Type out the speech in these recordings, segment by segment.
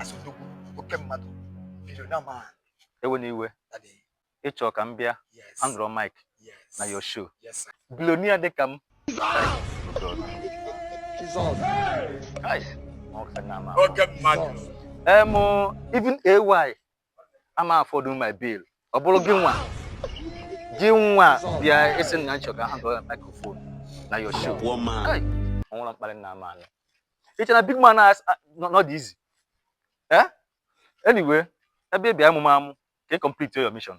as odogwu oke mmadụ biko nna m ewena iwe daddy ị chọ ka m bịa yes handle mic yes na your show yes sir billionaire dịka m Guys, ọ ka na ama. oke mmadụ em even AY ị ma afford my bill ọ bụrụ gị nwa gị nwa bịa ị sị na ị chọ ka m handle microphone na your show Poor man. Hey, ọ nwụrụ mkparị na ama anụ iche na big man as- a- nọ nọ dị easy eh anyway ebe ị bịa amụma amụ ka ị complete your mission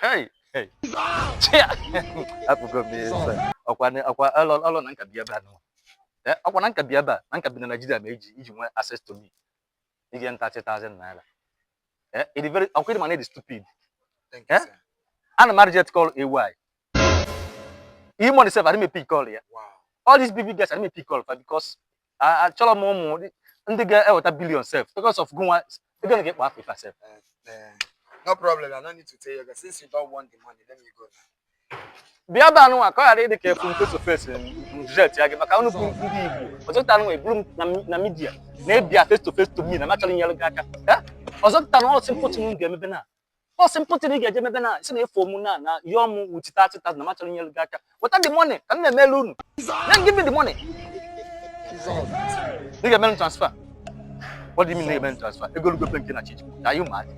Hey, hey. Chia. Apụgo m ihe nsọ. Ọkwa na- ọkwa ọlọ ọlọ na nka bi ebe a nọ. Eh, ọkwa na nka bi ebe a na nka bi na Naịjirịa ma eji iji nwee access to me. Ị ga nta 3000 naira. Eh, it is very ọkwa ị ma na ị dị stupid. Thank Eh? you, sir. Ana m a-reject call AY. E-Money sef adị m epick call ya. Wow. All these big big guys adị m epick call fa because achọrọ m ụmụ ndị ga-eweta billion sef because of gụnwa ego na ga-ekpo Africa sef no problem i no need to tell you since you don't want the money let me go now bịa ebe anụnwa ka ọ ghara ịdị ka a fụ m face to face jet ya gị maka unu bụ ndị Igbo ọzọpụta anụnwa eburu m na media na-abịa face to face to me na m achọrọ inyere gị aka ọzọpụta na ọsị mkpọtụ m ga-emebe na ọ sị mpụtara ị ga-eje mebe na si na ị fụ mụ na na yọọ mụ wuchi 30,000 na m achọrọ inyere gị aka weta the money ka m na-emere unu then give me the money ị ga-emere m transfer what do you mean na ị ga-emere m transfer ego lugo pe nke na chiji ka anyị ụmụadị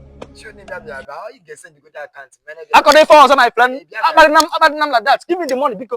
akọrọ ife ọzọ my friend akparịna m akparịna m like that give me the money biko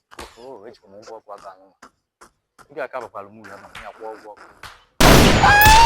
Oh, eji m ụgwọ ọgwụ aka anụ. Ị ga-akabakwala m ule ma m ya kwụọ ụgwọ ọgwụ.